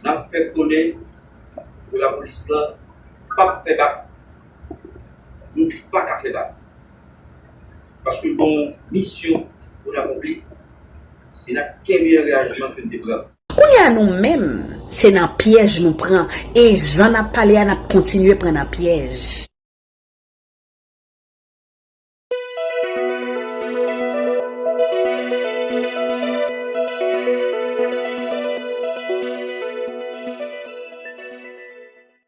Nap fè konnen pou lapolis lan pap fè bak nou paka fè bak paske nou gen misyon poun akonpli e nap kenbe angajman ke nou te pran. Kounye a nou menm se nan pyèj nou pran e jan nap pale a nap kontinye pran nan pyèj.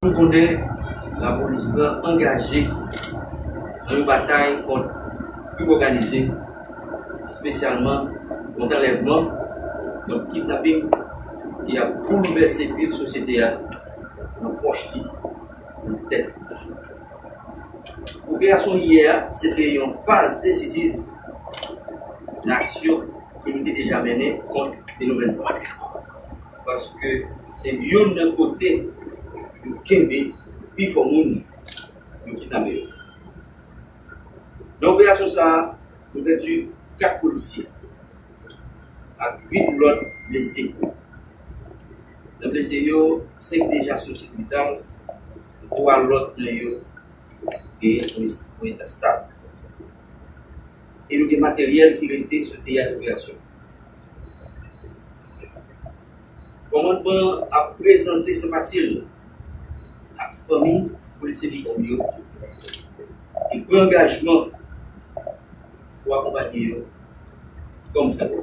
Nou konnen lapolis lan angaje nan yon batay kont krim òganize, espesyalman kont anlèvman, kont kidnaping ki ap boulvèse vil sosyete a nan pòch li, nan tèt li. Operasyon iyè a se te yon faz desisiv nan aksyon ke nou te deja mennen kont fenomèn sa a. Paske se youn nan kote yo kenbe pi fò moun yo kidnape yo. Nan operasyon sa a, nou pèdi 4 polisye ak 8 lòt blese. 2 blese yo, 5 deja sou sipital, 3 lòt nan yo genyen sou eta stab. E nou gen materyèl ki rete sou teyat operasyon. Kòmandman an ap prezante senpati l ak fanmi polisye viktim yo e pran angajman. pou akonpanye yo kòm zanmi.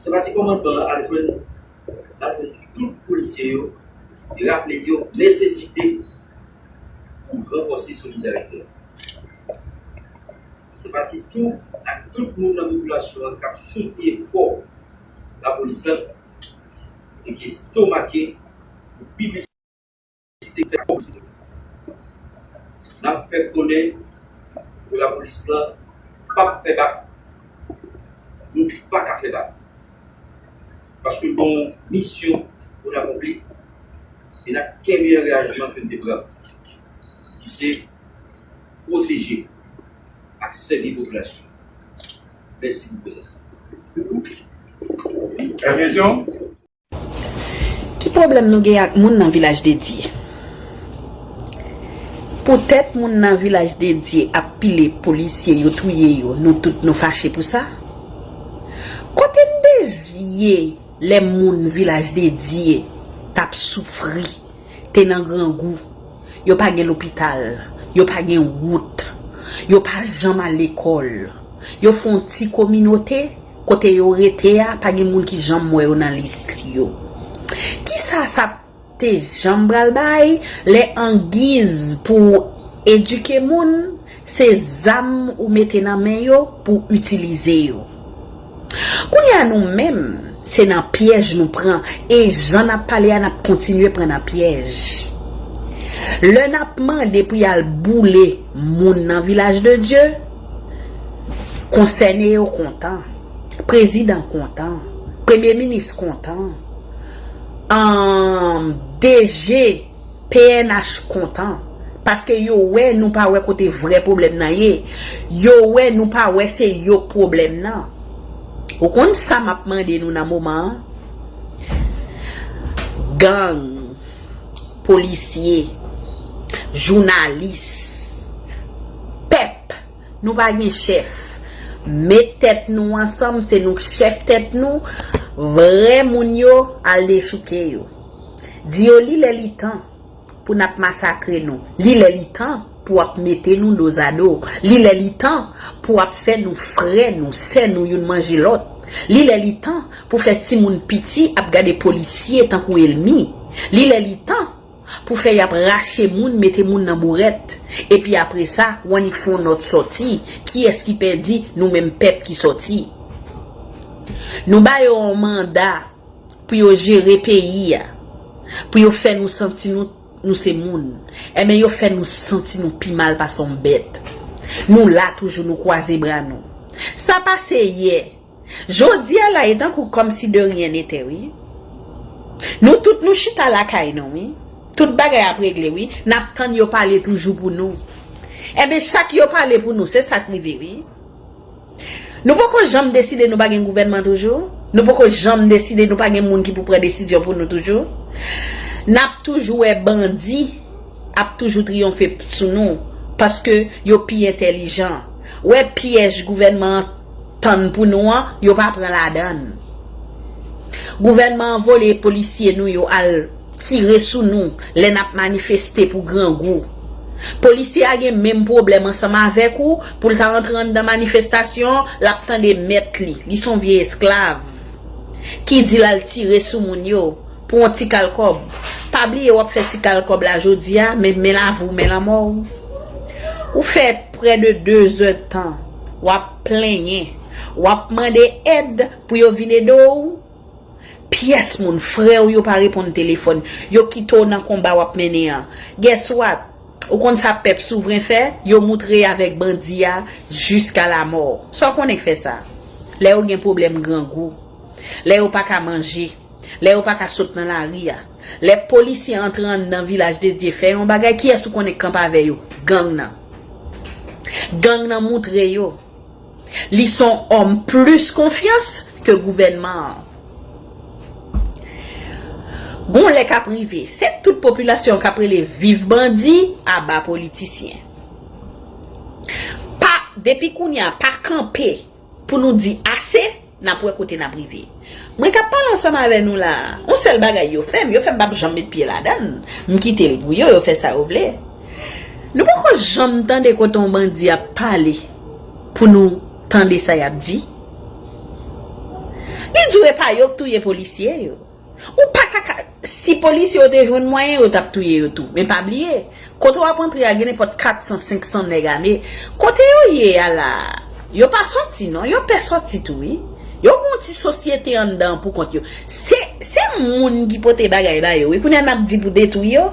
Senpati kòmandman an ap jwenn lajwenn tout polisye yo e raple yo nesesite pou ranfòse solidarite an. Senpati tou ak tout moun nan popilasyon an k ap soutni efò lapolis la e ki estomake pou pi plis. Si te fèt kòm se vre. Nap fè konnen pou lapolis lan pap fè bak. Nou paka fè bak. Paske nou gen misyon pou n akonpli e nap kenbe angajman ke n te pran ki se pwoteje ak sèvi popilasyon. Mèsi pou prezans nou. Lòt kesyon? Ki pwoblèm nou gen ak moun nan Vilaj Dedye? Poutèt moun nan Vilaj Dedye ap pile polisye yo touye yo nou tout nou fache pou sa? Kote n dej ye lè moun Vilaj Dedye t ap soufri, te nan grangou, yo pa gen lopital, yo pa gen wout, yo pa janm al lekòl, yo fon ti kominote? Kote yo rete a pa gen moun ki janm wè yo nan lis yo. Kisa sa te janm pral bay lè angiz pou w edike moun se zam ou mete nan men yo pou w itilize yo. Kounye a nou menm se nan pyèj nou pran e jan n ap pale a n ap kontinye pran nan pyèj. Lè n ap mande pou y al boule moun nan vilaj de Dye. Konsène yo kontan. Prezidan kontan. Premye minis kontan. Anm DG pnh kontan. Paske yo wè nou pa wè kote vrè pwoblèm nan ye. Yo wè nou pa wè se yo k pwoblèm nan. Ou konn sa m ap mande nou nan moman an? Gang. Polisye, jounalis, pèp, nou pa gen chèf. Met tèt nou ansanm, se nou k chèf tèt nou, vrè moun yo al dechouke yo. Di yo li lè li tan pou n ap masakre nou. Li lè li tan. Pou ap mete nou dozado. Li lè li tan pou ap fè nou frè nou, sè nou youn manje lòt. Li lè li tan pou fè timoun piti ap gade polisye tankou elmi. Li lè li tan pou fè y ap rache moun mete moun nan bourèt. Epi apre sa, w annik fè yon nòt sòti, kiyès ki pèdi, nou menm pèp ki sòti. Nou ba yo yon manda pou yo jere peyi a, pou yo fè nou santi nou. Nou se moun. Enben yo fè nou santi nou pi mal pase yon bèt. Nou la toujou, nou kwaze bra nou. Sa pase yè. Jodi a la e tankou kòm si de ryen nete wi. Nou tout nou chita lakay nou wi. Tout bagay ap regle wi. N ap tann yo pale toujou pou nou. Enben chak yo pale pou nou, se sa k rive wi. Nou poko janm deside nou pa gen gouvènman toujou? Nou poko janm deside nou pa gen moun ki pou pran desizyon pou nou toujou? N ap toujou wè bandi ap toujou triyonfe sou nou paske yo pi entèlijan. Wè pyèj gouvènman an tann pou nou an, yo pa pran ladan l. Gouvènman an vole polisye nou yo al. tire sou nou lè nap manifeste pou grangou. Polisye a gen menm pwoblèm ansanm avèk ou pou l ta antre anndan manifestasyon lap tande mèt li, li son vye esklav ki di l al tire sou moun yo pou yon ti kal kòb. Pa bliye wap fè ti kal kòb la jodi a men men lavi w men lanmò w. Ou fè prè de 2 zè tan wap plenyen, wap mande èd pou yo vin ede w, Pyès moun, frè w yo pa reponn telefòn, yo kite w nan konba w ap mennen an. Guess what? Ou konn sa pèp souvren fè? Yo moutre avèk bandi a jiska lamò. Sa w konnen k fè sa? Lè yo gen pwoblèm grangou. Lè yo pa ka manje. Lè yo pa ka sot nan lari a. Lè polisye antre anndan Vilaj de Dye fè yon bagay, kiyès ou konnen k kanpe avè yo? Gang nan. Gang nan moutre yo. Li son homme plus konfyans ke gouvènman an. Gon lè kap rive, se tout popilasyon kap rele viv bandi, aba politisyen. Pa depi kounya pa kanpe pou nou di ase. N ap wè kote n ap rive. Mwen k ap pale ansanm avè nou la a, yon sèl bagay yo fè m, yo fè m pap janm met pye ladan l. M kite l pou yo, yo fè sa yo vle. Nou poko janm tande kote yon bandi ap pale pou nou tande sa y ap di. Li di w e pa yo k touye polisye yo. Ou pa ka ka Si polisye yo te jwenn mwayen yo tap touye yo tou men pa bliye kote wap antre a gen nenpòt 400 500 nèg ame kote yo ye a la yo pa sòti non yo pè sòti tou wi yo gon ti sosyete anndan pou kont yo se se moun ki pote bagay ba yo wi kounye a nap di pou detwi yo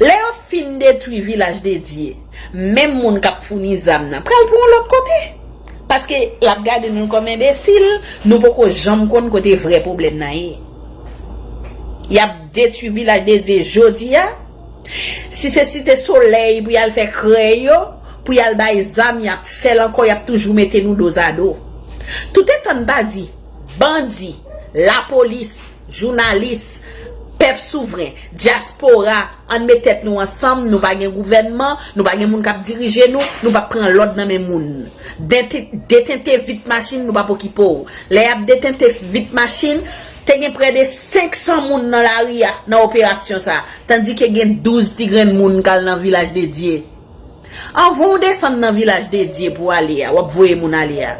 lè yo fin detwi vilaj dedye menm moun kap founi zam nan pral pou yon lòt kote. Paske lap gade nou kòm enbesil, nou poko janm konn kote vrè pwoblèm nan ye. Yap detwi vilaj de Dye jodi a, si se site solèy pou yal fè krè yo, pou yal bay zam yap fèl ankò yap toujou mete nou dozado. Toutetan n pa di bandi, lapolis, Jounalis, pèp souvren, dyaspora, ann met tèt nou ansanm, nou pa gen gouvènman, nou pa gen moun k ap dirije nou, nou p ap pran lòd nan men moun. Detente vit machin nou pa p okipe w. Lè y ap detente vit machin, te gen prè de 500 moun nan lari a nan operasyon sa a, tandike gen 12 ti grenn moun k al nan Vilaj Dedye. Anvan w desann nan vilaj dedye pou w ale a, w ap voye moun ale a,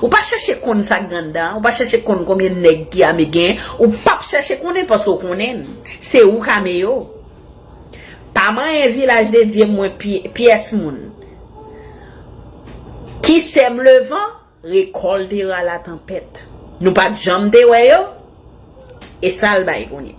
ou pa chèche konn sa k anndan an, ou pa chèche konn konbyen nèg ki ame gen, ou p ap chèche konnen paske w konnen se ou k ame yo. Pa manyen vilaj dedye mwen pyès moun. Ki sèm levan, rekòlte ra latanpèt. Nou pa t janm te wè yo, e sa l bay kounye.